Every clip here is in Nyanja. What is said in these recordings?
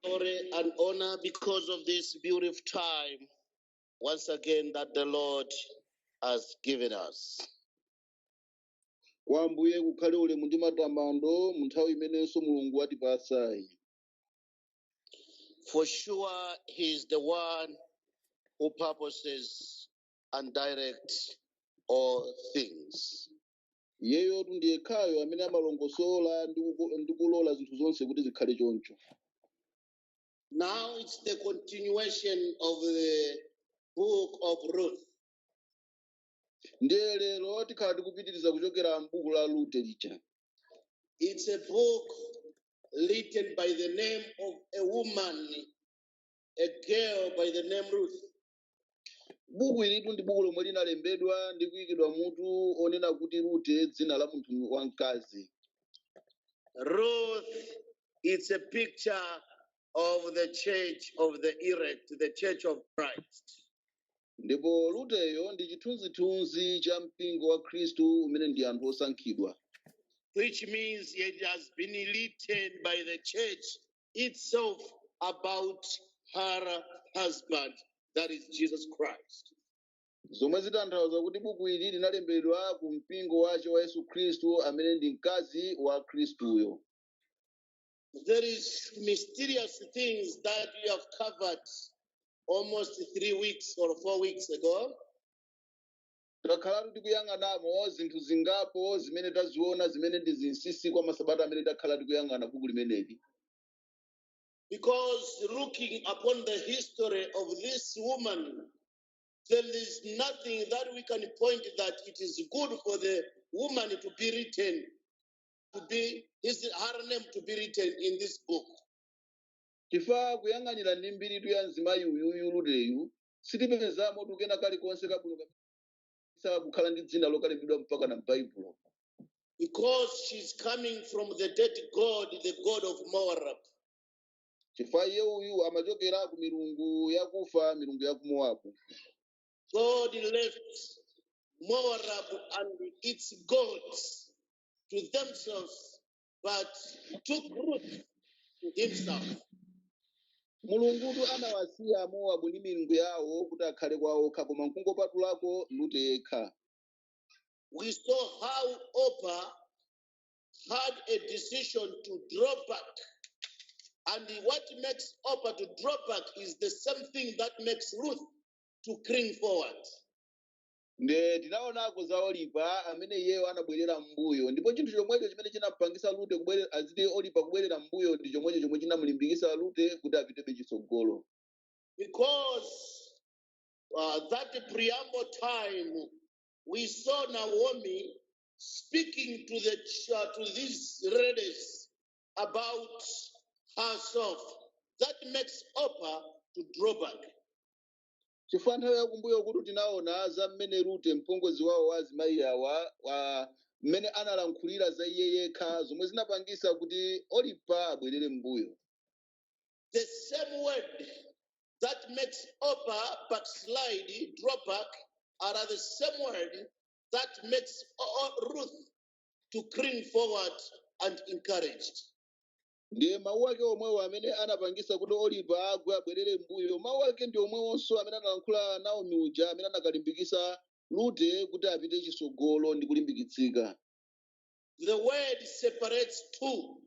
glory and honor because of this beautiful time once again that the Lord has given us. kwa ambuye kukhale ulemu ndi matamando mu nthawi imenenso mulungu watipatsayi For sure, He is the one who purposes and directs all things. iyeyotu ndi yekhayo amene amalongosola ndi kulola zinthu zonse kuti zikhale choncho Now it's the continuation of the book of Ruth. ndiye lero tikhala tikupitiriza kuchokera m'buku la rute lija It's a book written by the name of a woman, a girl by the name Ruth. buku ilitu ndi buku lomwe linalembedwa ndi kuyikidwa mutu onena kuti rute dzina la munthu wamkazi Ruth, it's a picture of the church of the elect, the church of Christ. ndipo ruteyo ndi chithunzithunzi cha mpingo wa khristu umene ndi anthu osankhidwa Which means it has been written by the church itself about her husband, that is Jesus Christ. zomwe zitanthauza kuti buku ili linalembedwa ku mpingo wace wa yesu khristu amene ndi mkazi wa khristuyo There is mysterious things that we have covered almost three weeks or four weeks ago. Takhalatu tikuyang'anamo zinthu zingapo zimene taziona zimene ndi zinsinsi kwa masabata amene takhala tikuyang'ana buku limeneli. Because looking upon the history of this woman, there is nothing that we can point that it is good for the woman to be written, to be his her name to be written in this book. Chifukwa kuyang'anira ndi mbiritu ya mzimayi uyuyu Ruteyu, sitipezamo tukena kalikonse kabwino kopangitsa kukhala ndi dzina lokalembedwa mpaka na m'baibulo Because she's coming from the dead god, the god of Moab. chifukwa iye uyu amachokera ku milungu yakufa milungu ya ku mowabu God left Moab and its gods to themselves but took Ruth to himself. mulungutu anawasiya mowabu ndi milungu yawo kuti akhale kwa okha koma nkungopatulako rute yekha We saw how Opa had a decision to draw back. And what makes Opa to draw back is the same thing that makes Ruth to cling forward. nde tinaonako za olipa amene iyeyo anabwerera m'mbuyo ndipo chinthu chomwecho chimene chinampangisa lute kubwere- azati olipa kubwerera m'mbuyo ndi chomwecho chomwe chinamlimbikisa lute kuti apitebe chitsogolo Because uh, that preamble time, we saw Naomi speaking to the ch- uh, to these ladies about herself. That makes Orpah to draw back. chifukwa nthawi yakumbuyo kuti tinaona za mmene rute mpongozi wawo wa azimayi awa wa- mmene analankhulira za iye yekha zomwe zinapangisa kuti olipa abwerere m'mbuyo The same word that makes Orpah backslide, draw back, are the same word that makes O- O- Ruth to cling forward and encouraged. ndiye mawu ake omwewo amene anapangisa kuti olipa agwe abwerere mbuyo mawu ake ndi omwewonso amene analankhula naomi uja amene anakalimbikisa lute kuti apite chisogolo ndi kulimbikitsika The word separates two.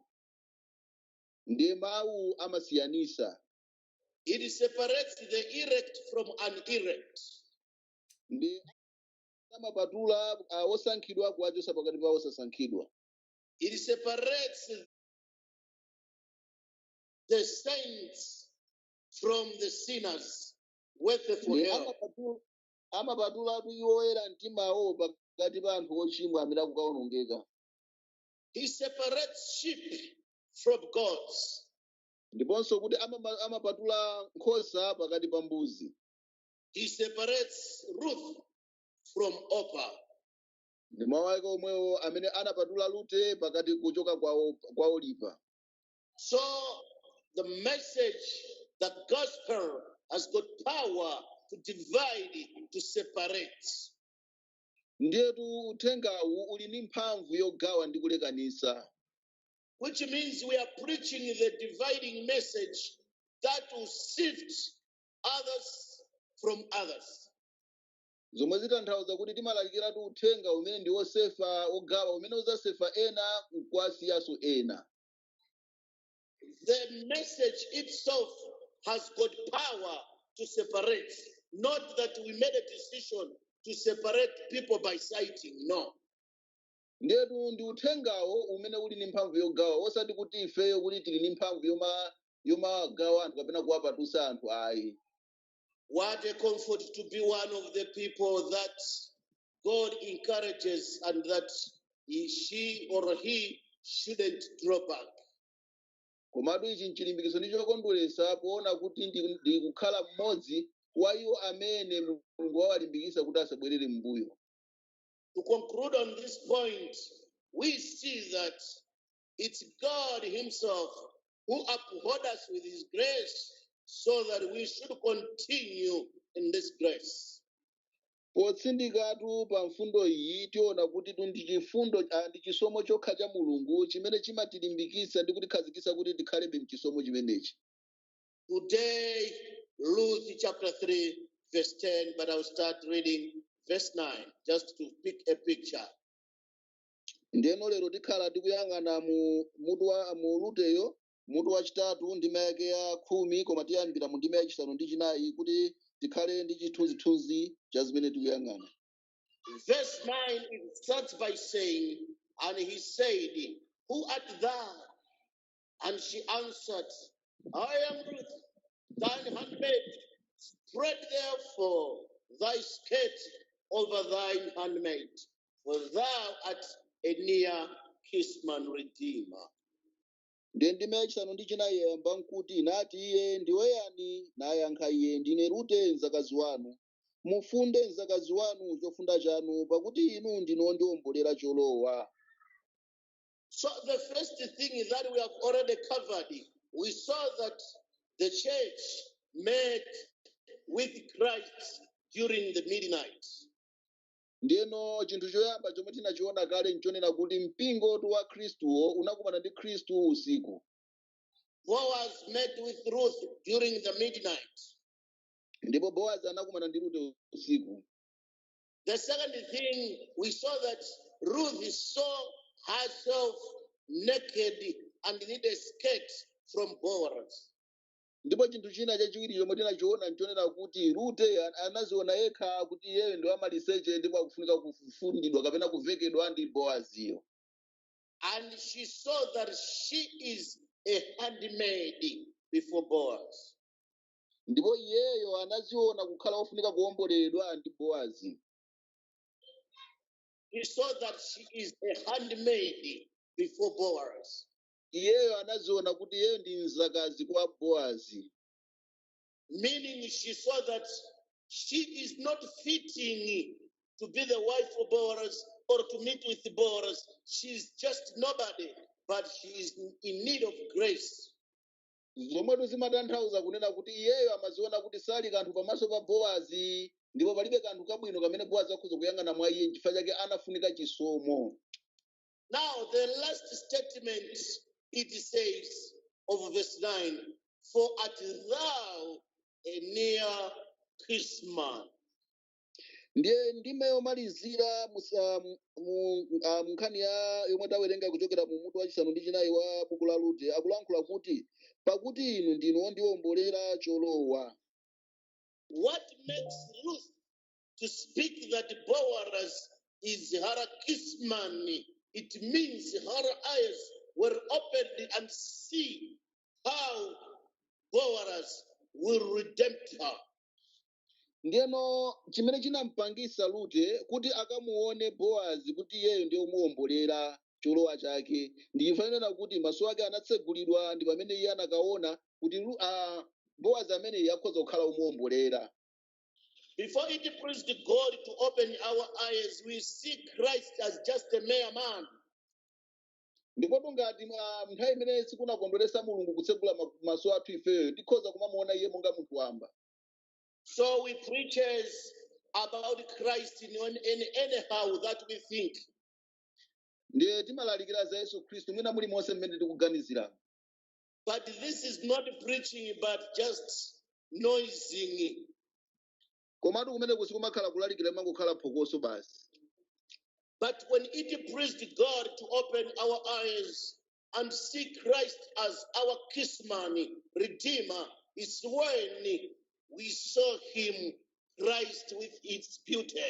ndiye mawu amasiyanisa It separates the elect from unelect. ndiye amapatula ah, osankhidwa kuwachosa pakati pa osasankhidwa It separates the saints from the sinners worth for Ndiye hell. amapatu- amapatulatu iwo oyera mtimawo pakati pa anthu ochimwa amene akukawonongeka He separates sheep from goats. ndiponso kuti amama- amapatula nkhosa pakati pa mbuzi He separates Ruth from Orpah. ndi mawu ake omwewo amene anapatula lute pakati kuchoka kwa, o- kwa olipa So the message, the gospel has got power to divide, to separate. ndiyetu uthengawu uli ndi mphamvu yogawa ndi kulekanisa Which means we are preaching the dividing message that will sift others from others. zomwe zitanthauza kuti timalalikiratu uthenga umene ndi wosefa wogawa umene uzasefa ena nkuwasiyanso ena The message itself has got power to separate, not that we made a decision to separate people by sighting. No. ndetu ndi uthengawo umene uli ndi mphamvu yogawa osati kuti ifeyo kuti tili ndi mphamvu yoma yomagawa anthu kapena kuwapatusa anthu ayi What a comfort to be one of the people that God encourages and that he, she or he shouldn't draw back. komatu ichi nchilimbikitso ndi chokondweretsa poona kuti ndi- ndikukhala mmodzi wa iwo amene mulungu wawalimbikitsa kuti asabwerere m'mbuyo To conclude on this point, we see that It's God Himself who upholds us with His grace so that we should continue in this grace. potsindikatu pa mfundo iyi tiona kuti tu ndi chifundo ah, ndi chisomo chokha cha mulungu chimene chimatilimbikitsa ndi kutikhazikitsa kuti tikhalebe mchisomo chimenechi Today, Ruth chapter 3, verse 10, but I'll start reading verse 9 just to pick a picture. ndiyeno lero tikhala tikuyang'ana mu mutu wa mu ruteyo mutu wachitatu ndima yake ya khumi koma tiyambira mu ndima yachisanu ndi chinayi kuti tikhale ndi chithunzithunzi cha zimene tikuyang'ana Verse 9 it starts by saying, And he said, Who art thou? And she answered, I am Ruth, thine handmaid. Spread therefore thy skirt over thine handmaid, for thou art a near kinsman redeemer. ndiye ndime yachisanu ndi chinayi yayamba nkuti nati iye ndiwe yani nayankha iye ndine rute mdzakazi wanu mufunde mdzakazi wanu chofunda chanu pakuti inu ndinu ondiwombolera cholowa So the first thing that we have already covered, we saw that the church met with Christ during the midnight. ndiyeno chinthu choyamba chomwe tinachiona kale nchonena kuti mpingo tu wa khristuwo unakumana ndi khristu usiku Boaz met with Ruth during the midnight. ndipo boazi anakumana ndi rute usiku The second thing, we saw that Ruth saw herself naked and needed a skirt from Boaz. ndipo chinthu china chachiwiri chomwe tinachiona nchonena kuti rute an- anadziona yekha kuti iyeyo ndi wamaliseche ndipo akufunika kufundidwa kapena kuvekedwa ndi boaziyo And she saw that she is a handmaid before Boaz. ndipo iyeyo anadziona kukhala ofunika kuwomboleredwa ndi boazi She saw that she is a handmaid before Boaz. iyeyo anadziona kuti iyeyo ndi mdzakazi kwa boazi Meaning she saw that she is not fitting to be the wife of Boaz or to meet with Boaz. She is just nobody, but she is in need of grace. zomwetu zimatanthauza kunena kuti iyeyo amaziona kuti sali kanthu pamaso pa Boazi ndipo palibe kanthu kabwino kamene Boazi akhoza kuyang'ana mwa iye chifukwa chake anafunika chisomo Now, the last statement it says of verse 9 For art thou a near kinsman. ndiye ndime yomalizira musa- mu- mu- ah, munkhani ya yomwe tawerenga kuchokera mu mutu wachisanu ndi chinayi wa buku la rute akulankhula kuti pakuti inu ndinu wondiwombolera cholowa What makes Ruth to speak that Boaz is her kinsman? It means her eyes were opened and see how Boaz will redeem her. ndiyeno chimene chinampangisa rute kuti akamuone boazi kuti iyeyo ndiye omuwombolera cholowa chake ndi chifukwa chonena kuti maso ake anatsegulidwa ndi pamene iye anakaona kuti Ru- ah, boazi ameneyi akhoza kukhala omuwombolera Before it pleased God to open our eyes, we see Christ as just a mere man. ndipotu ngati mwa- nthawi imene sikunakondweresa mulungu kutsegula ma- maso athu ifeyo tikhoza kumamuona iye monga munthu wamba So we preaches about Christ in, one- in anyhow that we think. ndiye timalalikira za yesu khristu mwina mulimonse mmene tikuganizira But this is not preaching, but just noising. komatu kumeneku sikumakhala kulalikira kumangokhala phokoso basi But when it pleased God to open our eyes and see Christ as our kinsman, redeemer, is when we saw him, Christ, with its beauty.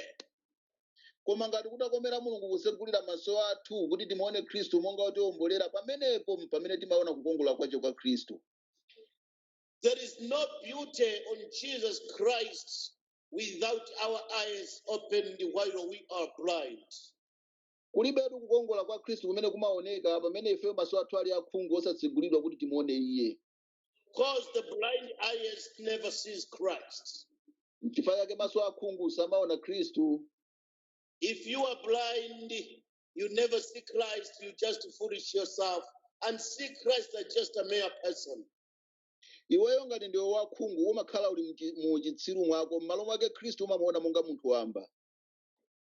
koma ngati kutakomera mulungu kusegulira maso athu kuti timuone khristu monga wotiwombolera pamenepo mpamene timaona kukongola kwake kwa khristu There is no beauty on Jesus Christ without our eyes opened while we are blind. Kulibetu kukongola kwa Khristu kumene kumaoneka pamene ifeyo maso athu ali akhungu osatsegulidwa kuti timuone Iye. Because the blind eyes never sees Christ. N'chifukwa chake maso akhungu samaona Khristu. If you are blind, you never see Christ, you just foolish yourself and see Christ as just a mere person. Iweyo ngati ndiwe wakhungu umakhala uli mchi- mu uchitsiru mwako m'malo mwake Khristu umamuona monga munthu wamba.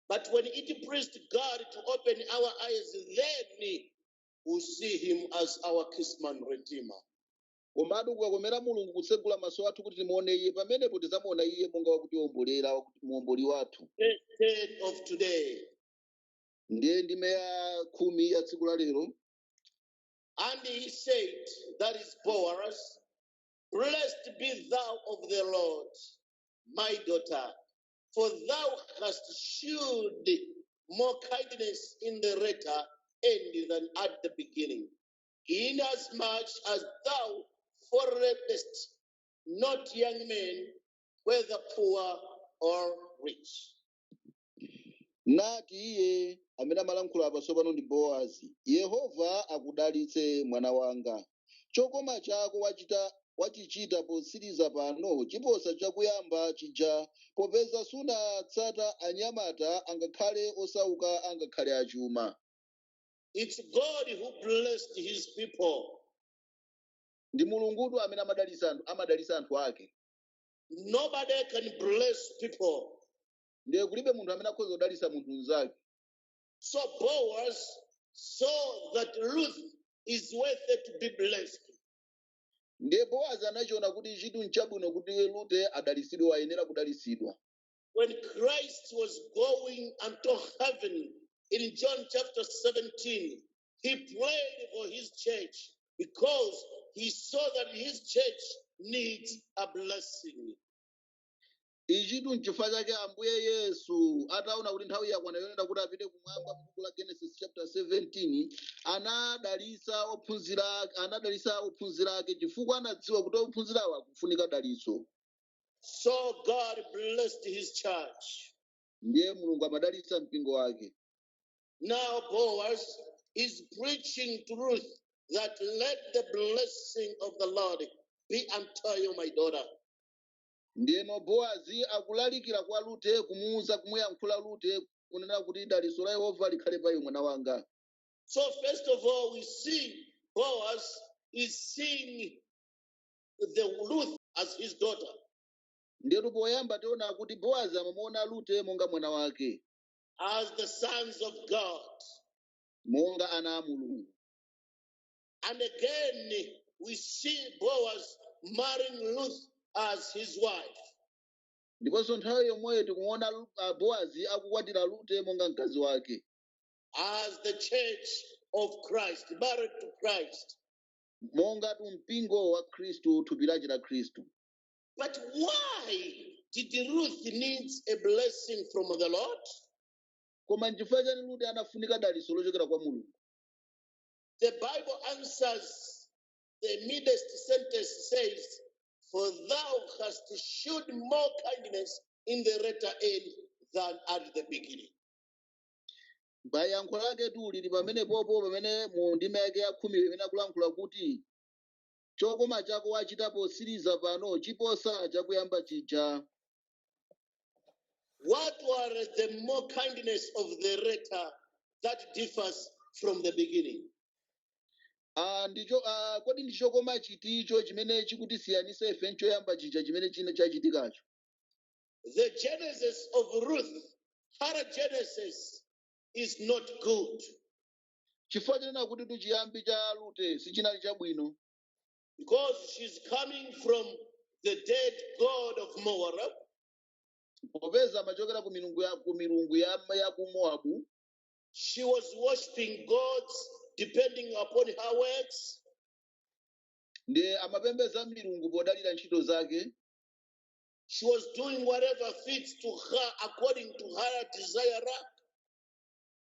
But when it pleased God to open our eyes, then we see him as our kinsman redeemer. komatu kukakomera mulungu kutsegula maso athu kuti timuone iye pamenepo tidzamuona iye monga wakuti- muomboli wathu Verse 10 of today. ndiye ndime ya khumi ya tsiku la lero And he said, That is Boaz, blessed be thou of the Lord, my daughter. for thou hast shewed more kindness in the latter end than at the beginning. Inasmuch as thou followedst not young men, whether poor or rich. nati iye amene amalankhula apa tsopano ndi boazi yehova akudalitse mwana wanga Chokoma chako wachichita potsiriza pano chiposa chakuyamba chija popeza sunatsata anyamata angakhale osauka angakhale achuma. It's God who blessed his people. Ndi Mulungutu amene amadalitsa anthu ake. Nobody can bless people. Ndiye kulibe munthu amene akhoza kudalitsa munthu mnzake. So Boaz saw that Ruth is worthy to be blessed. ndiye boazi anachiona kuti chitu nchabwino kuti rute adalitsidwe wayenera kudalitsidwa When Christ was going unto heaven in John chapter 17, he prayed for his church because he saw that his church needs a blessing. ichitu nchifukwa chake ambuye yesu ataona kuti nthawi yakwana yonena kuti apite kumwamba m'buku la genesis chapter 17 anadalitsa ophunzira ake chifukwa anadziwa kuti ophunzirawo akufunika dalitso So God blessed his church. ndiye mulungu amadalitsa mpingo wake Now Boaz is preaching to Ruth that let the blessing of the Lord be unto you, my daughter. Ndiyeno Boazi akulalikira kwa Rute, kumuuza, kumuyankhula Rute, kunena kuti, Dalitso la Yehova likhale pa iwe, mwana wanga. So first of all, we see Boaz is seeing the Ruth as his daughter. Ndiyetu poyamba tiona kuti Boazi amamuona Rute monga mwana wake, as the sons of God. monga ana a Mulungu. And again, we see Boaz marrying Ruth as his wife. ndiponso nthawi yomweyo tikuona Lu- ah, boazi akukwatira rute monga mkazi wake as the church of Christ, married to Christ. mongatu mpingo wa khristu thupi lace la khristu But why did Ruth need a blessing from the Lord? koma nchifukwa chani rute anafunika dalitso lochokera kwa mulungu The Bible answers the midst sentence says, For thou hast shewed more kindness in the latter end than at the beginning. Yankho laketu lili pamenepo pamene mu ndime yake ya khumi imene akulankhula kuti chokoma chako wachita potsiriza pano chiposa chakuyamba chija What were the more kindness of the latter that differs from the beginning? Ah, ndicho ah, kodi ndi chokoma chiticho chimene chikutisiyanisa ife nchoyamba chija chimene chinachitikacho The genesis of Ruth, her genesis is not good. chifukwa chonena kutitu chiyambi cha rute sichinali chabwino Because she's coming from the dead god of Moab, popeza amachokera ku milungu ya, ku milungu ya, ya ku mowabu she was worshipping gods depending upon her works. ndiye amapembedza milungu podalira ntchito zake She was doing whatever fits to her according to her desire.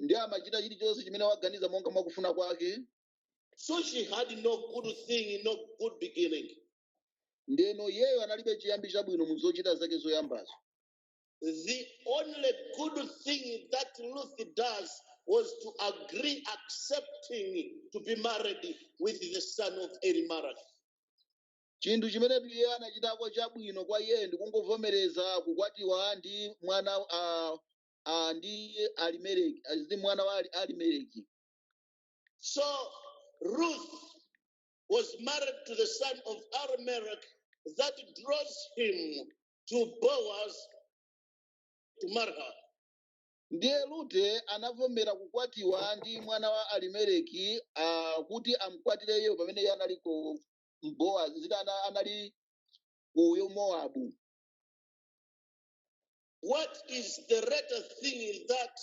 ndiye amachita chilichonse chimene waganiza monga mwakufuna kwake So she had no good thing, no good beginning. ndeno iyeyo analibe chiyambi chabwino mu zochita zake zoyambazo The only good thing that Ruth does was to agree, accepting to be married with the son of Elimelech. chinthu chimene iye anachitako chabwino kwa iye ndi kungovomereza kukwatiwa ndi mwana ah, ah, ndi Alimeleki, ah, ndi mwana wa Ali- Alimeleki. So Ruth was married to the son of Elimelech that draws him to Boaz to marry her. Ndiye Rute anavomera kukwatiwa ndi mwana wa Alimeleki ah, kuti amkwatire iye pamene iye anali ku Boaz, zita ana- anali ku Moabu. What is the greater thing that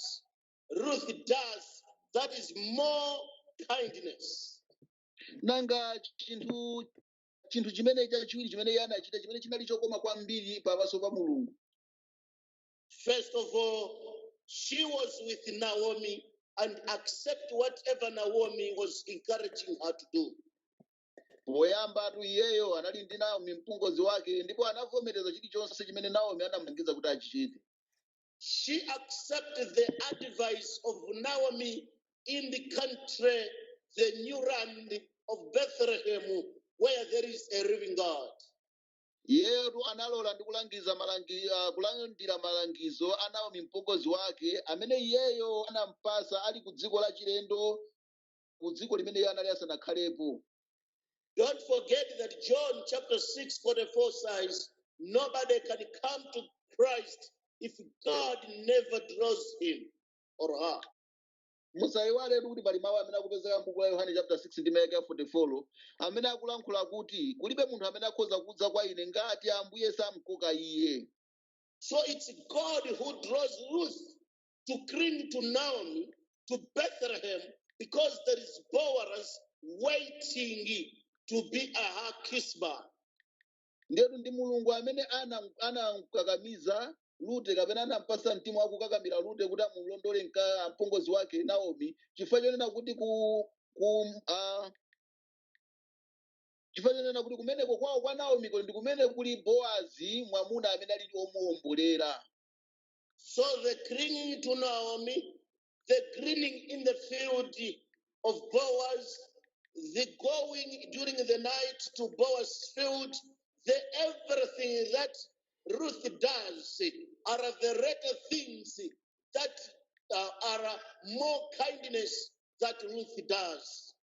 Ruth does that is more kindness? nanga chinthu chimene chachiwiri chimene iye anachita chimene chinali chokoma kwambiri pamaso pa mulungu First of all, she was with Naomi and accept whatever Naomi was encouraging her to do. poyambatu iyeyo anali ndi naomi mpongozi wake ndipo anavomereza chilichonse chimene naomi anamulangiza kuti achichite she accepted the advice of Naomi in the country, the new land of Bethlehem, where there is a living God. iyeyotu analola ndi kulangiza malangi, uh, kulandira malangizo a naomi mpongozi wake amene iyeyo anampasa ali ku dziko la chilendo ku dziko limene iye anali asanakhalepo Don't forget that John chapter 6, 44 says, Nobody can come to Christ if God never draws him or her. musayiwaletu kuti pali mawu amene akupezeka m'buku la yohane chapter 6 ndi vesi ya 44 amene akulankhula kuti kulibe munthu amene akhoza kudza kwa ine ngati ambuye samkoka iye So it's God who draws Ruth to cling to Naomi, to Bethlehem, because there is Boaz waiting to be a her kinsman. ndiyetu ndi mulungu amene ana- anamkakamiza lute kapena anampasa mtima wakukakamira lute kuti amulondole mka mpongozi wake naomi chifukwa chonena kuti ku, ku ah, chifukwa chonena kuti kumeneko kwawo kwa naomi kuli ndi kumene kuli boazi mwamuna amene alili omuwombolera So the clinging to Naomi, the gleaning in the field of Boaz, the going during the night to Boaz's field, the everything that Ruth does are the greater things that uh, are more kindness that Ruth does.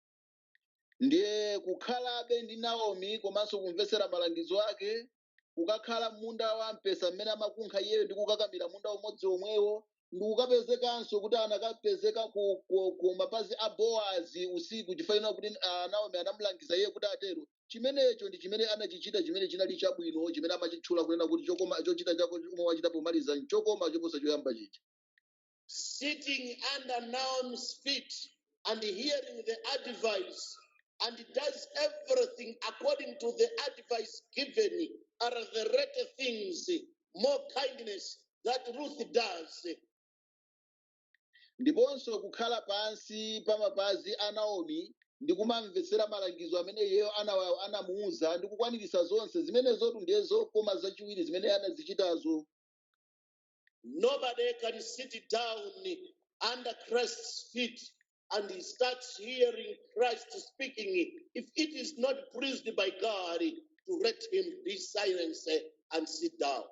ndiye kukhalabe ndi naomi komanso kumvetsera malangizo ake kukakhala munda wa mpesa mmene amakunkha iyeyo ndi kukakamira munda umodzi omwewo ndi kukapezekanso kuti anakapezeka ku, ku, ku mapazi a boazi usiku chifukwa kuti ah, naomi anamulangiza iye kuti atero chimenecho ndi chimene anachichita chimene chinali chabwino chimene amachitchula kunena kuti chokoma chochita chako chomwe wachita pomaliza nchokoma choposa choyamba chija sitting under Naomi's feet and hearing the advice and does everything according to the advice given are the latter things, more kindness that Ruth does. ndiponso kukhala pansi pa mapazi a naomi ndi kumamvetsera malangizo amene iyeyo ana- anamuwuza ndi kukwaniritsa zonse zimenezotu ndiye zokoma zachiwiri zimene anazichitazo Nobody can sit down under Christ's feet and he starts hearing Christ speaking. If it is not pleased by God, to let him be silenced and sit down.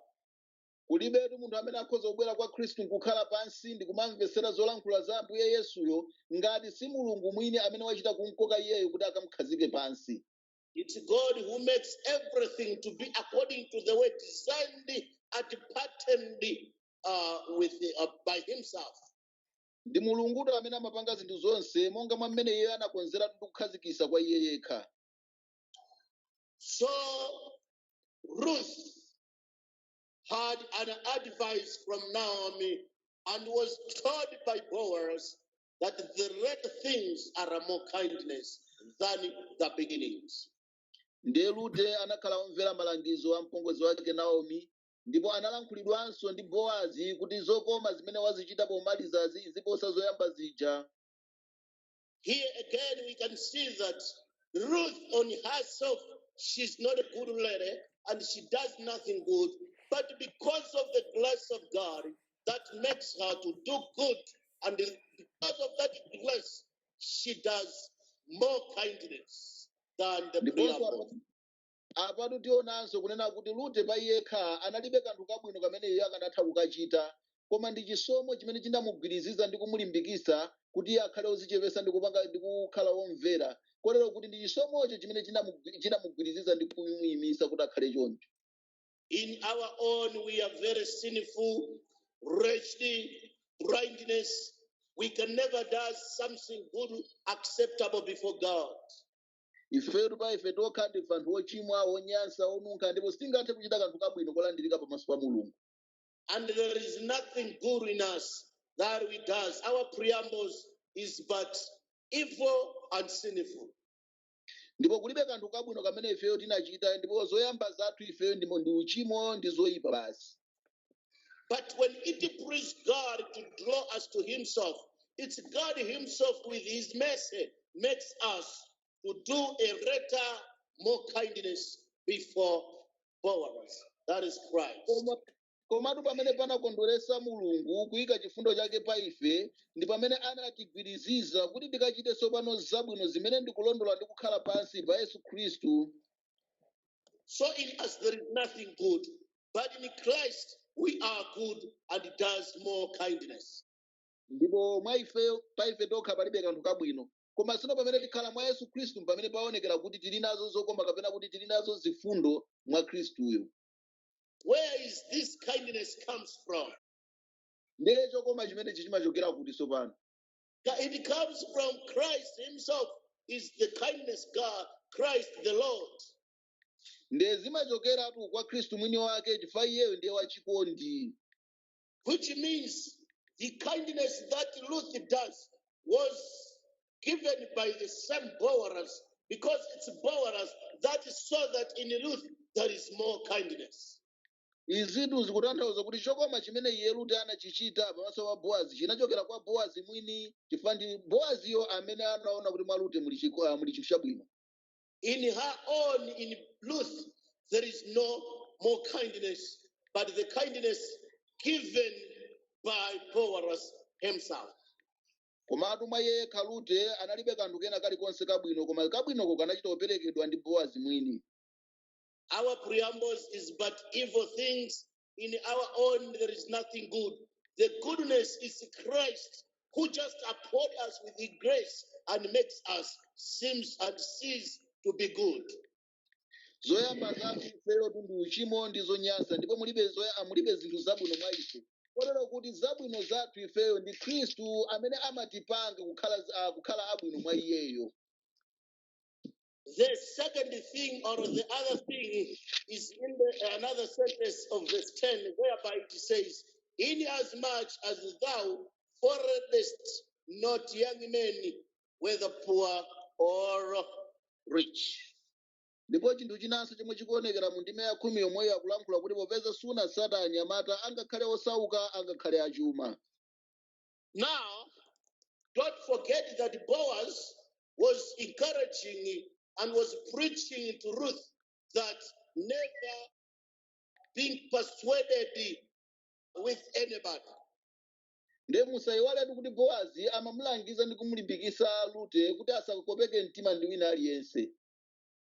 kulibetu munthu amene akhoza kubwera kwa khristu nkukhala pansi ndi kumamvetsera zolankhula za ambuye yesuyo ngati si mulungu mwini amene wachita kumkoka iyeyo kuti akamkhazike pansi It's God who makes everything to be according to the way designed and patterned uh, with uh, by Himself. ndi mulungutu amene amapanga zinthu zonse monga mwa mmene iye anakonzeratu ndi kukhazikitsa kwa iye yekha So Ruth had an advice from Naomi and was told by Boaz that the latter things are more kindness than the beginnings. ndiye rute anakhala womvera malangizo a mpongozi wake naomi ndipo analankhulidwanso ndi boazi kuti zokoma zimene wazichita pomalizazi ziposa zoyamba zija Here again, we can see that Ruth on herself, she's not a good lady and she does nothing good. But because of the grace of God, that makes her to do good, and because of that grace, she does more kindness than the previous. ndiponso apatu apatu tionanso kunena kuti rute pa yekha analibe kanthu kabwino kamene iye akanatha kukachita koma ndi chisomo chimene chinamugwiriziza ndi kumulimbikitsa kuti iye akhale ozichepesa ndi kupanga ndi kukhala womvera kotero kuti ndi chisomocho chimene chinamu- chinamugwiriziza ndi kumuyimisa kuti akhale choncho In our own, we are very sinful, wretched, blindness. We can never do something good acceptable before God. ifetu pa ife tokha ndife anthu ochimwa onyansa onunkha ndipo sitingathe kuchita kanthu kabwino kolandirika pamaso pa mulungu And there is nothing good in us that we does. Our preambles is but evil and sinful. ndipo kulibe kanthu kabwino kamene ifeyo tinachita ndipo zoyamba zathu ifeyo ndi- ndi uchimo ndi zoyipa basi But when it pleased God to draw us to Himself, it's God Himself with His mercy makes us to do a greater, more kindness before Boaz. That is Christ. koma komatu pamene panakondweresa mulungu kuyika chifundo chake pa ife ndi pamene anatigwiriziza kuti tikachite tsopano zabwino zimene ndikulondola ndi kukhala pansi pa yesu khristu So in us there is nothing good, but in Christ we are good and does more kindness. ndipo mwa ife pa ife tokha palibe kanthu kabwino koma sino pamene tikhala mwa yesu khristu mpamene paonekera kuti tili nazo zokoma kapena kuti tili nazo zifundo mwa khristuyo Where is this kindness comes from? ndiye chokoma chimenechi chimachokera kuti tsopano Ca- It comes from Christ Himself, is the kindness God, Christ the Lord. ndiye zimachokeratu kwa khristu mwini wake chifukwa iyeyo ndiye wachikondi which means the kindness that Ruth does was given by the same Boaz because it's Boaz that saw that in Ruth there is more kindness. izitu zikutanthauza kuti chokoma chimene iye rute anachichita pamaso pa boazi chinachokera kwa boazi mwini chifukwa ndi boaziyo amene anaona kuti mwa rute muli chiko- ah, muli chinthu chabwino In her own, in Ruth, there is no more kindness, but the kindness given by Boaz himself. komatu mwa iye yekha rute analibe kanthu kena kalikonse kabwino koma kabwinoko kanachita kuperekedwa ndi boazi mwini Our preambles is but evil things in our own there is nothing good. The goodness is Christ who just uphold us with his grace and makes us seems and sees to be good. zoyamba zathu ifeyo ndi uchimo ndi zonyansa ndipo mulibe zoya- mulibe zinthu zabwino mwa ife kotero kuti zabwino zathu ifeyo ndi khristu amene amatipanga kukhala, uh, kukhala abwino mwa iyeyo The second thing or the other thing is in the, another sentence of verse 10, whereby it says, In as much as thou followedst not young men, whether poor or rich. ndipo chinthu chinanso chomwe chikuonekera mu ndime ya khumi yomweyo akulankhula kuti popeza sunatsata anyamata angakhale osauka angakhale achuma Now, don't forget that Boaz was encouraging and was preaching to Ruth that never being persuaded with anybody. ndiye musayiwaletu kuti bowazi amamulangiza ndi kumulimbikisa rute kuti asakopeke mtima ndi wina aliyense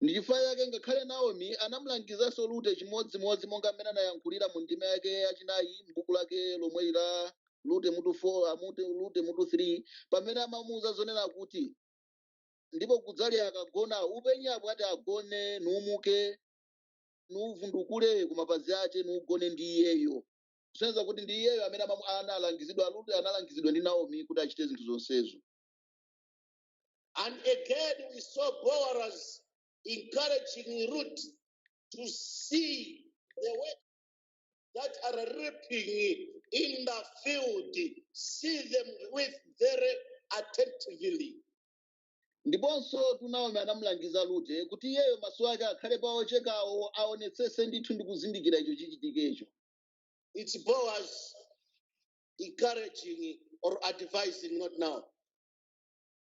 ndi chifukwa chake ngakhale naomi anamulangizanso rute chimodzimodzi monga mmene anayankhulira mu ndima yake yachinayi m'buku lake lomweli la rute mutu 4 amute rute mutu 3 pamene amamuuza zonena kuti ndipo kudzali akagona upenye apo ati agone nuumuke nuuvundukule ku mapazi ache nuugone ndi iyeyo kusonyeza kuti ndi iyeyo amene amamu- analangizidwa rute analangizidwa ndi naomi kuti achite zinthu zonsezo And again, we saw Boaz encouraging Ruth to see the way that are reaping in the field, see them with very attentively. ndiponso tu naomi anamulangiza lute kuti iyeyo maso ake akhale pa ochekawo aonetsese ndithu ndi kuzindikira icho chichitikecho It's Boaz encouraging or advising, not Naomi.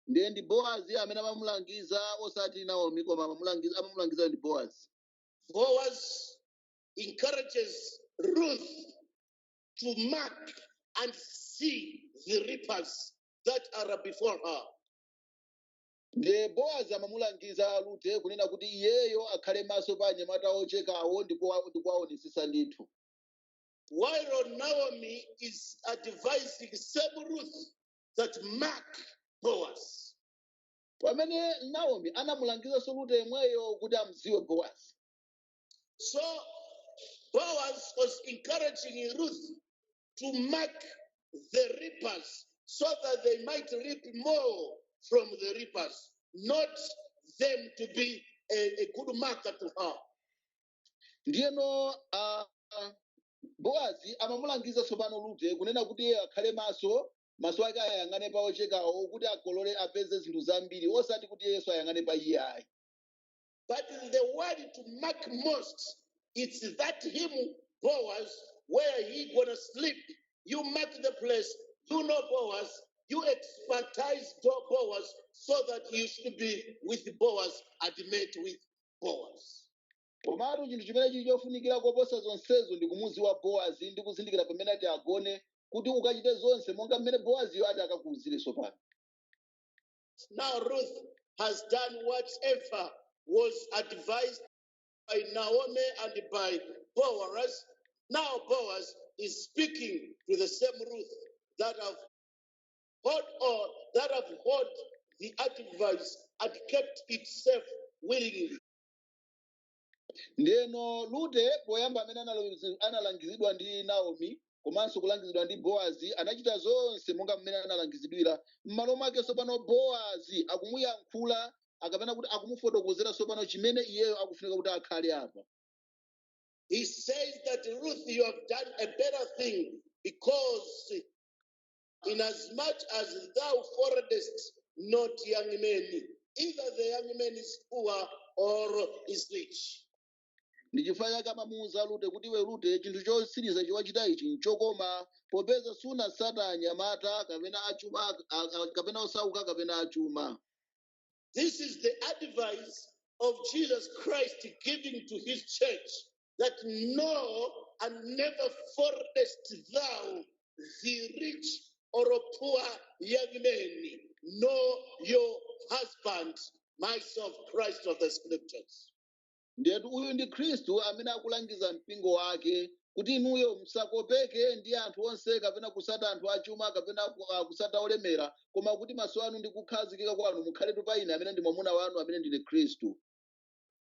ndiye ndi boazi amene amamulangiza osati naomi koma amamulangiza amamulangiza ndi boazi Boaz encourages Ruth to mark and see the reapers that are before her. ndiye boazi amamulangiza rute kunena kuti iyeyo akhale maso pa anyamata ochekawo ndi kuwa- ndi kuwaonetsetsa ndithu While Naomi is advising same Ruth that mark Boaz. pamene naomi anamulangizanso rute yemweyo kuti amdziwe bowazi So Boaz was encouraging Ruth to mark the reapers so that they might reap more from the reapers, not them to be a, a good marker to her. ndiyeno uh, boazi amamulangiza tsopano rute kunena kuti iye akhale maso maso ake ayang'ane pa ochekawo kuti akolole apeze zinthu zambiri osati kuti yesu ayang'ane pa iye ayi But the word to mark most, it's that him Boaz, where he gonna sleep. You mark the place, you know Boaz, you expertise Bo- Boaz so that you should be with Boaz and mate with Boaz. komatu chinthu chimene chili chofunikira koposa zonsezo ndi kumudziwa boazi ndi kuzindikira pamene ati agone kuti ukachite zonse monga mmene boaziyo ati akakuuzire tsopano Now Ruth has done whatever was advised by Naomi and by Boaz. Now Boaz is speaking to the same Ruth that have hold on, that have hold the advice and kept it safe willingly. ndeno rute poyamba amene analo- analangizidwa ndi naomi komanso kulangizidwa ndi boazi anachita zonse monga mmene analangizidwira m'malo mwake tsopano boazi akumuyankhula akapena kuti akumufotokozera tsopano chimene iyeyo akufunika kuti akhale apa He says that Ruth, you have done a better thing because Inasmuch as thou followedst not young men, either the young man is poor or is rich. ndi chifukwa chake amamuwuza rute kuti iwe rute chinthu chotsiriza chiwachita ichi nchokoma popeza sunasata anyamata kapena achuma a- a- kapena osauka kapena achuma This is the advice of Jesus Christ giving to his church that no, and never followedst thou the rich or poor young men, know your husband, myself, Christ of the scriptures. Ndiyetu uyu ndi Khristu amene akulangiza mpingo wake kuti inuyo musakopeke ndi anthu onse kapena kusata anthu achuma kapena ku- ah, kusata olemera koma kuti maso anu ndi kukhazikika kwanu mukhaletu pa ine amene ndi mwamuna wanu amene ndine Khristu.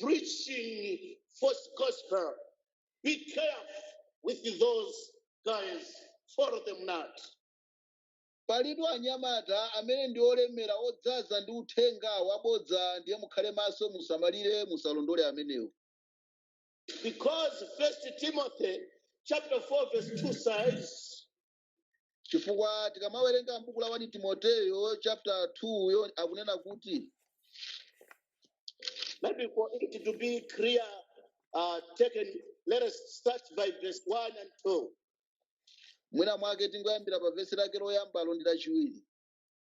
preaching false gospel. Be careful with those guys. Follow them not. palitu anyamata amene ndi olemera odzaza ndi uthenga wabodza ndiye mukhale maso musamalire musalondole amenewo Because First Timothy chapter 4 verse 2 says, chifukwa tikamawerenga m'buku la 1 timoteyo chapter 2 yo akunena kuti Maybe for it to be clear, uh, taken, let us start by verse 1 and 2. mwina mwake tingoyambira pa vesi lake loyambalo ndi lachiwiri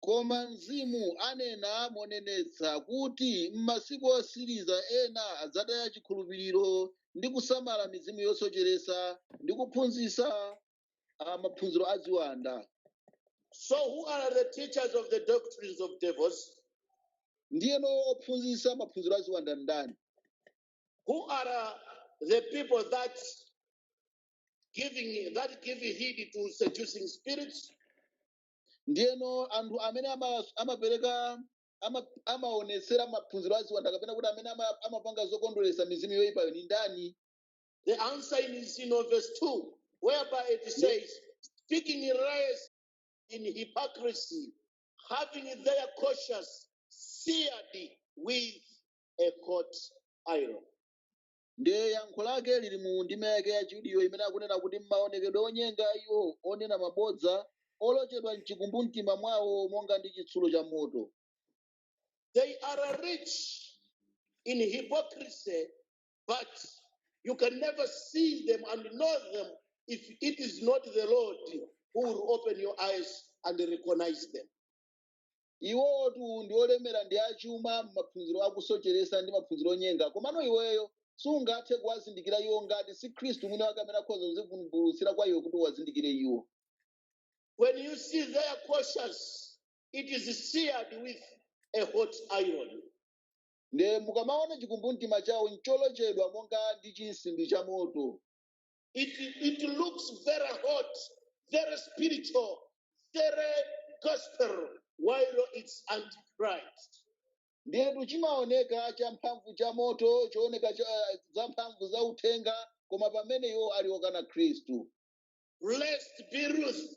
Koma Mzimu anena monenetsa kuti m'masiku otsiriza ena adzataya chikhulupiriro ndi kusamala mizimu yosocheretsa ndi kuphunzitsa ah, maphunziro a ziwanda. So, who are the teachers of the doctrines of devils? Ndiyeno ophunzitsa maphunziro a ziwanda ndani? Who are uh, the people that give heed to seducing spirits? ndiyeno anthu amene ama- amapereka ama- amaonetsera maphunziro a ziwanda kapena kuti amene ama- amapanga zokondweretsa mizimu yoyipayo ni ndani The answer is in verse 2, whereby it says, speaking in lies in hypocrisy, having their conscience seared with a hot iron. ndiye yankho lake lili mu ndime yake yachiwiriyo imene akunena kuti m'maonekedwe onyenga a iwo onena mabodza olochedwa mchikumbumtima mwawo monga ndi chitsulo cha moto They are rich in hypocrisy, but you can never see them and know them if it is not the Lord who will open your eyes and recognize them. iwotu ndi olemera ndi achuma m'maphunziro akusocheresa ndi maphunziro onyenga komano iweyo sungathe kuwazindikira iwo ngati si khristu mwini wake amene akhoza kuzivumbulutsira kwa iwe kuti uwazindikire iwo When you see their conscience, it is seared with a hot iron. nde mukamaona chikumbumtima chawo ncholochedwa monga ndi chinsimbi cha moto It, it looks very hot, very spiritual, very gospel, while it's antichrist. ndiyetu chimaoneka champhamvu cha moto chooneka za mphamvu za uthenga koma pamene iwo ali okana khristu Blessed be Ruth,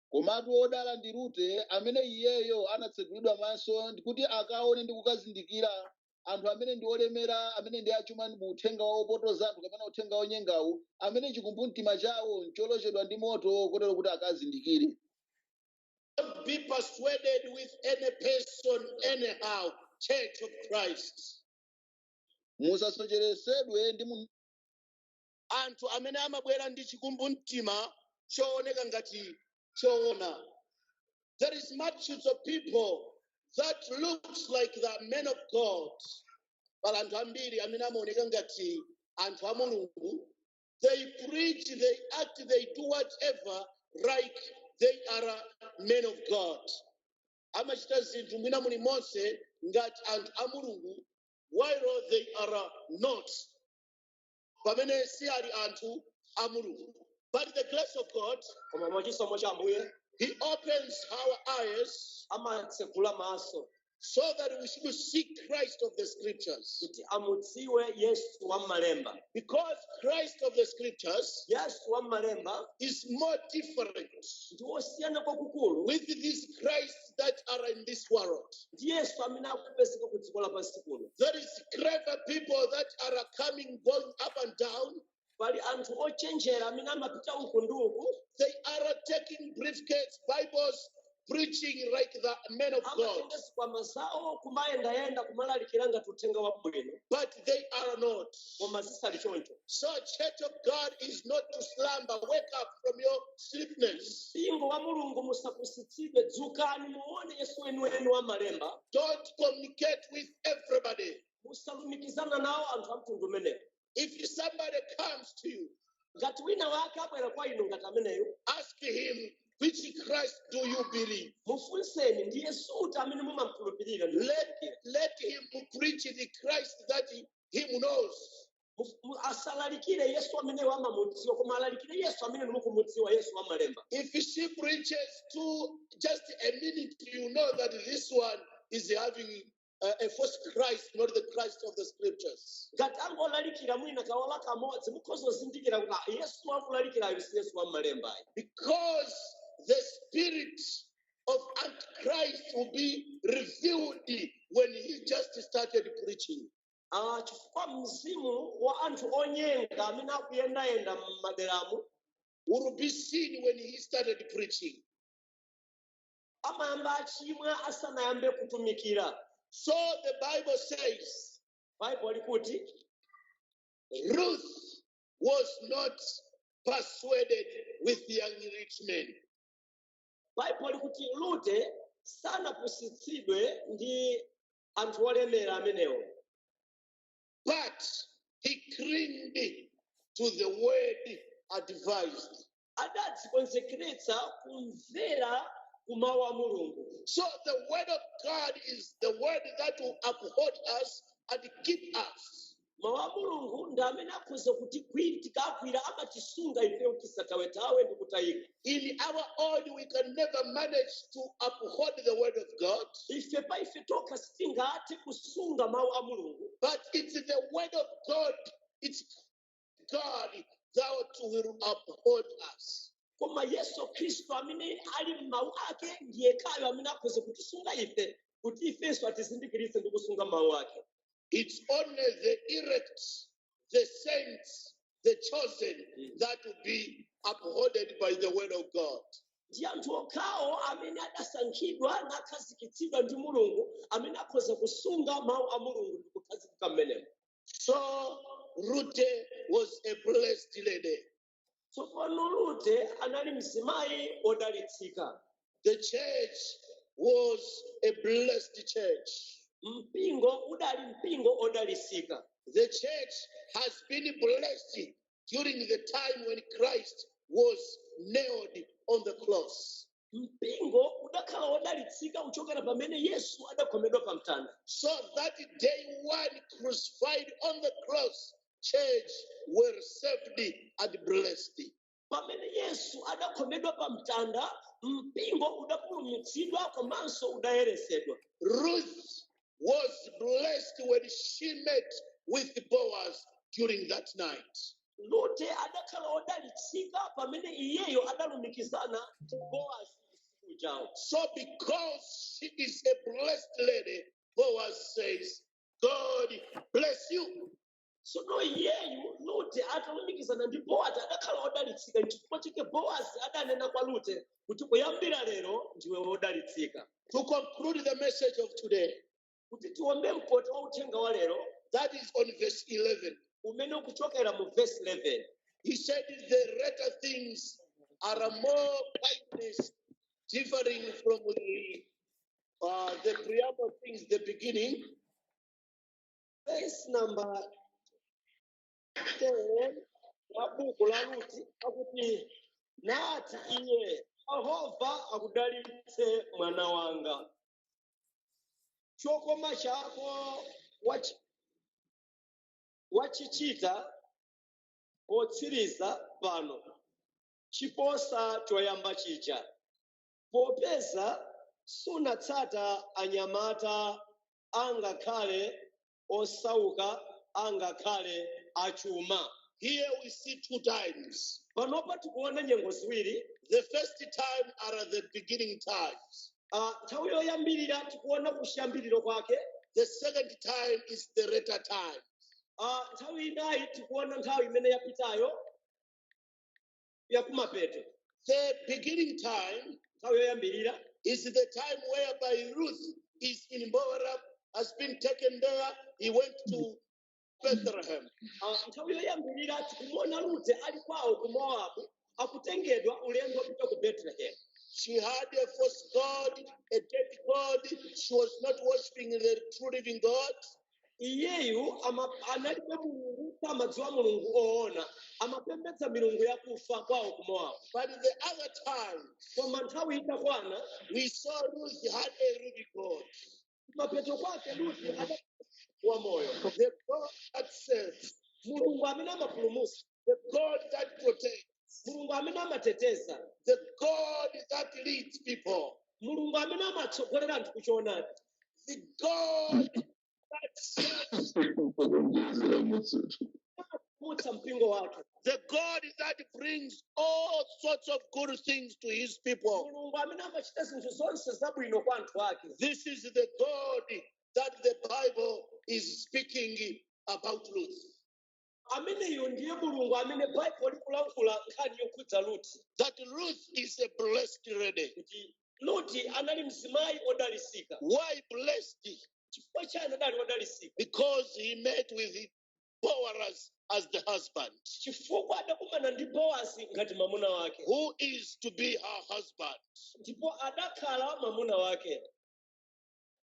komatu wodala ndi rute amene iyeyo anatsegulidwa maso ndi kuti akaone ndi kukazindikira anthu amene ndi olemera amene ndi achuma mu uthenga wa opotoza anthu kapena uthenga wonyengawu amene chikumbumtima chawo ncholochedwa ndi moto kotero kuti akazindikire Don't be persuaded with any person anyhow, Church of Christ. musasocheretsedwe ndi munthu anthu amene amabwera ndi chikumbumtima chooneka ngati choona there is multitudes of people that looks like the men of god pali anthu ambiri amene amaoneka ngati anthu a mulungu they preach they act they do whatever like they are men of god amachita zinthu mwina mulimonse ngati anthu a mulungu while they are not pamene si ali anthu a mulungu but the grace of god koma mwachisomo cha ambuye he opens our eyes amatsegula maso so that we should seek christ of the scriptures kuti amudziwe yesu wa m'malemba because christ of the scriptures yesu wa m'malemba is more different ndi wosiyana kwakukulu with this christ that are in this world. ndi yesu amene akupezeka ku dziko lapansi kuno There is clever people that are coming, going up and down. pali anthu ochenjera amene amapita uku ndi uku They are taking briefcase, Bibles, preaching like the men of God. amatenga zikwama zawo kumayendayenda kumalalikira ngati uthenga wabwino But they are not. koma zisali choncho So, church of God is not to slumber. Wake up from your sleepiness. mpingo wa mulungu musapusitsidwe dzukani muone yesu weniweni wa m'malemba Don't communicate with everybody. musalumikizane nawo anthu a mtundu umenewo If somebody comes to you, ngati wina wake abwera kwa inu ngati ameneyo ask him, which Christ do you believe? mufunseni ndi yesu uti amene mumamkhulupirira Let, let him preach the Christ that he, him who knows. Mu- mu- asalalikire yesu amene amamudziwa koma alalikire yesu amene mukumudziwa yesu wa m'malemba If she preaches to just a minute, you know that this one is having uh, a false Christ, not the Christ of the scriptures. ngati angolalikira mwina ka ola kamodzi mukhoza kuzindikira kuti "Ah, yesu akulalikirayo si yesu wa m'malembayo Because the spirit of Antichrist will be revealed when he just started preaching. Ah, chifukwa mzimu wa anthu onyenga amene akuyendayenda m'maderamu will be seen when he started preaching. amayamba achimwa asanayambe kutumikira So the Bible says baibulo likuti Ruth was not persuaded with young rich men. baibulo likuti rute sanapusitsidwe ndi anthu olemera amenewo But he clinged to the word advised. adadzikonzekeretsa kumvera kumawu a mulungu So the word of God is the word that will uphold us and keep us. mawu a mulungu ndi amene akhoza kutigwira tikagwira amatisunga ifeyo tisatawetawe ndi kutayika In our own, we can never manage to uphold the word of God, ife pa ife tokha sitingathe kusunga mawu a mulungu but it's the word of God, it's God that will uphold us. koma yesu khristu amene ali m'mawu ake ndi yekhayo amene akhoza kutisunga ife kuti ifenso atizindikiritse ndi kusunga mawu ake It's only the elect, the saints, the chosen that will be upholded by the word of God. ndi anthu okhawo amene adasankhidwa nakhazikitsidwa ndi mulungu amene akhoza kusunga mawu a mulungu ndi kukhazikika mmenemo So Ruth was a blessed lady. tsopano rute anali mzimayi wodalitsika The church was a blessed church. mpingo udali mpingo odalitsika The church has been blessed during the time when Christ was nailed on the cross. mpingo udakhala wodalitsika kuchokera pamene yesu adakhomedwa pa mtanda So that day one crucified on the cross, church were saved and blessed. pamene yesu adakhomedwa pa mtanda mpingo udapulumutsidwa komanso udayeretsedwa Ruth was blessed when she met with Boaz during that night. rute adakhala odalitsika pamene iyeyo adalumikizana ndi boazi usiku ujawo So because she is a blessed lady, Boaz says, God bless you. tsono iyeyu rute atalumikizana ndi boazi adakhala odalitsika nchifukwa chake boazi adanena kwa rute kuti kuyambira lero ndiwe wodalitsika To conclude the message of today, kuti tiombe mkota wa uthenga wa lero that is on verse 11. umene ukuchokera mu vesi 11 He said, The latter things are more kindness, differing from the, uh, the preamble things, the beginning. vesi namba 10 la buku la rute akuti nati iye yehova akudalitse mwana wanga chokoma chako wachichita potsiriza pano chiposa choyamba chija popeza sunatsata anyamata angakhale osauka angakhale achuma Here we see two times. panopa tikuona nyengo ziwiri The first time are the beginning times. Ah, nthawi yoyambirira tikuona kuchiyambiriro kwake The second time is the later time. Ah, nthawi inayi tikuona nthawi imene yapitayo ya kumapeto The beginning time nthawi yoyambirira is the time whereby Ruth is in Moab, has been taken there. He went to Bethlehem. Ah, nthawi yoyambirira tikumwona rute ali kwawo ku mowabu akutengedwa ulendo kupita ku betelehemu She had a false God, a dead God. She was not worshiping the true living God. iyeyu ama- analibe mulungu samadziwa mulungu oona amapembedza milungu yakufa kwawo ku mowabu But in the other time, koma nthawi itakwana we saw Ruth had a living God. mapeto kwake luti adakhala wa moyo The God that saves. mulungu amene amapulumutsa the God that protects, mulungu amene amateteza the God that leads people, mulungu amene amatsogolera anthu ku choonadi the God that saves, amapulumutsa mpingo wake the God that brings all sorts of good things to his people. mulungu amene amachita zinthu zonse zabwino kwa anthu ake This is the God that the Bible is speaking about Ruth. ameneyo ndiye mulungu amene baibulo likulankhula nkhani yokhudza luti that Ruth is a blessed lady. kuti luti anali mzimayi odalisika Why blessed? chifukwa chani adali odalisika Because he met with Boaz as the husband, chifukwa adakumana ndi boazi ngati mwamuna wake who is to be her husband. ndipo adakhala mwamuna wake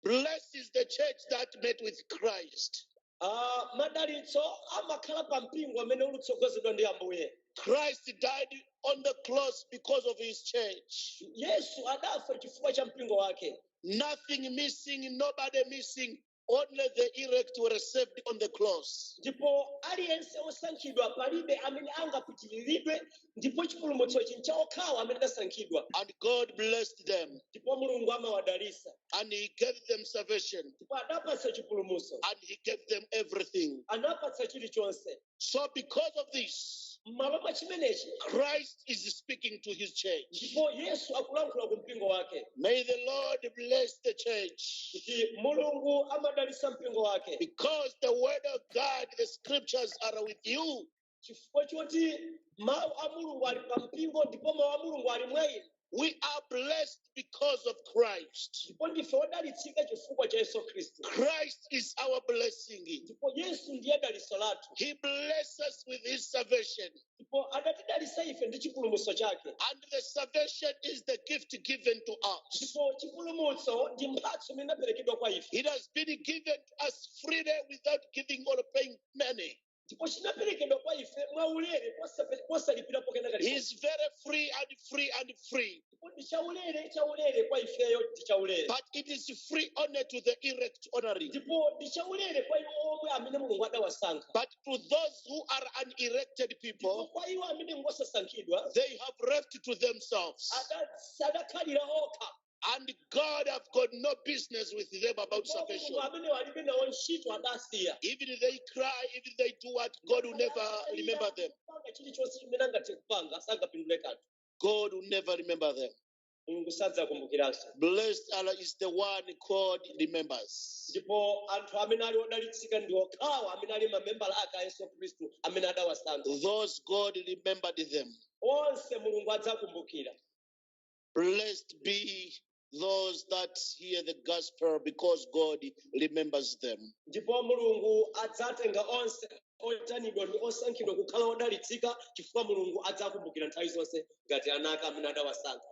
Blessed is the church that met with Christ. Ah, madalitso amakhala pa mpingo amene ulutsogozedwa ndi ambuye Christ died on the cross because of his church. yesu adafa chifukwa cha mpingo wake Nothing missing, nobody missing. Only the elect were saved on the cross. ndipo aliyense osankhidwa palibe amene angapitiriridwe ndipo chipulumutsochi ncha okhawo amene adasankhidwa And God blessed them, ndipo mulungu amawadalitsa and He gave them salvation, ndipo adapatsa chipulumutso and He gave them everything. anapatsa chilichonse So, because of this, m'malo mwa chimenechi Christ is speaking to His church. ndipo yesu akulankhula ku mpingo wake May the Lord bless the church. kuti mulungu amadalitsa mpingo wake Because the word of God, the scriptures are with you. chifukwa choti mawu a mulungu ali pa mpingo ndipo mawu a mulungu ali mwa inu We are blessed because of Christ. ndipo ndife odalitsika chifukwa cha yesu khristu Christ is our blessing. ndipo yesu ndiye dalitso lathu He blesses us with his salvation. ndipo adatidalitsa ife ndi chipulumutso chake And the salvation is the gift given to us. ndipo chipulumutso ndi mphatso imene idaperekedwa kwa ife It has been given to us freely without giving or paying money. ndipo chinaperekedwa kwa ife mwaulere posape- posalipirapo kena kali He's very free and free and free. ndipo ndi chaulere chaulere kwa ifeyo ndi chaulere But it is free only to the elect honoring. ndipo ndi chaulere kwa iwo omwe amene mulungu adawasankha But to those who are unelected ndipo people, kwa iwo amene ngosasankhidwa they have left to themselves. ada- adakhalira okha And God have got no business with them about salvation. mulungu alibe nawo ntchito adasiya Even they cry, even they do what, God will never remember them. chilichonse chimene angathe kupanga sangapindule kanthu God will never remember them. mulungu sadzakumbukiranso Blessed are is the one God remembers. ndipo anthu amene ali odalitsika ndi okhawo amene ali mamembala ake a yesu khristu amene adawasankha Those God remembered them. onse mulungu adzakumbukira Blessed be those that hear the gospel because God remembers them. ndipo mulungu adzatenga onse oitanidwa ndi osankhidwa kukhala odalitsika chifukwa mulungu adzakumbukira nthawi zonse ngati ana ake amene adawasankha